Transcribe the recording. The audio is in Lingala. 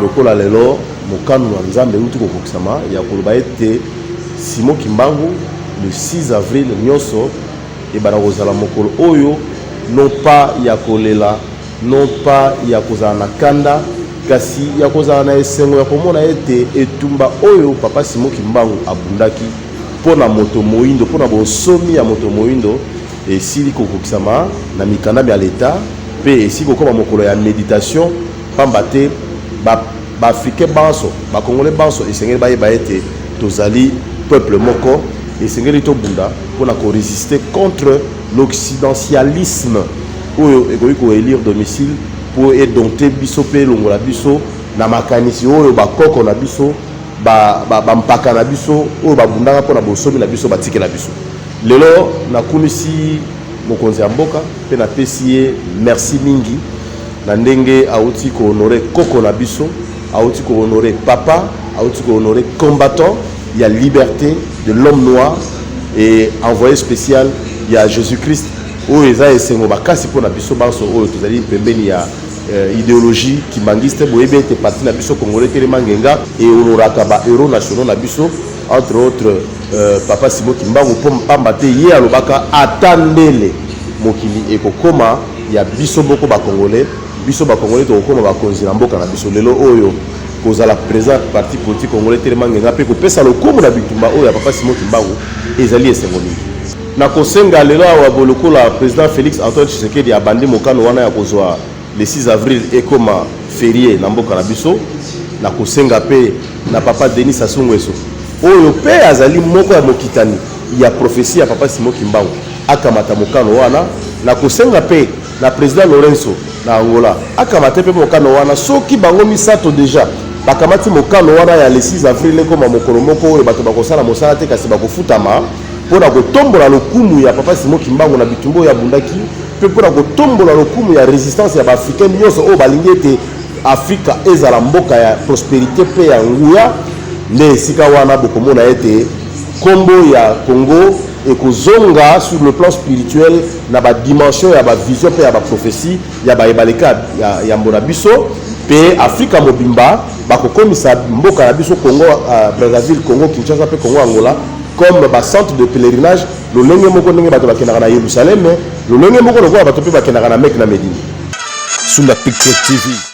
lokola lelo mokano na nzambe euti kokokisama ya koloba ete simo kimbangu le 6 avril nyonso ebanda kozala mokolo oyo non pas ya kolela non pas ya kozala na kanda kasi ya kozala na esengo ya komona ete etumba oyo Papa Simon Kimbangu abundaki mpo na moto moindo, mpo na bonsomi ya moto moindo esili kokokisama na mikanda mya Leta mpe esili kokoma mokolo ya meditation mpamba te ba baafricain banso bakongole banso esengeli bayeba ete tozali peuple moko esengeli tobunda mpo na koresiste contre l'occidentialisme oyo ekoki ko elire domicile mpo e dompter biso mpe elongola biso na makanisi oyo bakoko na biso bampaka na biso oyo babundaka mpo na bonsomi na biso batikela biso lelo nakumisi mokonzi ya mboka mpe napesi ye merci mingi na ndenge auti kohonore koko na biso auti kohonore papa auti kohonore combattant ya liberté de l'homme noir et envoyé spécial ya jésus christ Oyo eza esengo makasi mpo na biso banso oyo tozali pembeni ya euh, ideologie kimangiste boyebi ete parti na biso congolais telema ngenga eoloraka ba héros nationaux na biso entre autres euh, papa simo kimbangu mpo mpamba te ye alobaka ata ndele mokili ekokoma ya biso moko bacongolais biso bacongolais tokokoma bakonzi na mboka na biso lelo oyo kozala présent parti politique congolais telema ngenga mpe kopesa lokumu na bitumba oyo ya papa simo kimbangu ezali esengo mingi Na kosenga lelo awa bo lokola President Felix Antoine Tshisekedi abandi mokano wana ya kozwa le 6 avril ekoma ferie na mboka na biso, na kosenga mpe na Papa Denis Sassou Nguesso oyo mpe azali moko ya mokitani ya prophetie ya Papa Simon Kimbangu akamata mokano wana, na kosenga mpe na President Lourenço na Angola akamata mpe mokano wana soki bango misato dejà bakamati mokano wana ya le 6 avril ekoma mokolo moko oyo bato bakosala mosala te kasi bakofutama. mpo na kotombola lokumu ya papa Simon Kimbangu na bitumba oyo abundaki mpe mpo na kotombola lokumu ya resistance ya baafrikain nyonso oyo balingi ete afrika ezala mboka ya prosperité mpe ya nguya nde esika wana bokomona ete nkombo ya congo ekozonga sur le plan spirituel na badimension ya bavision mpe ya baprophesie ya baye baleki ya yambo na biso mpe afrika mobimba bakokomisa mboka na biso congo euh, brazzaville congo kinshasa mpe congo angola comme ba centre de pèlerinage lolenge moko ndenge bato bakendaka na Yerusaleme lolenge moko lokola bato mpe bakendaka na Mecque na Medina. Sunda Pictures TV.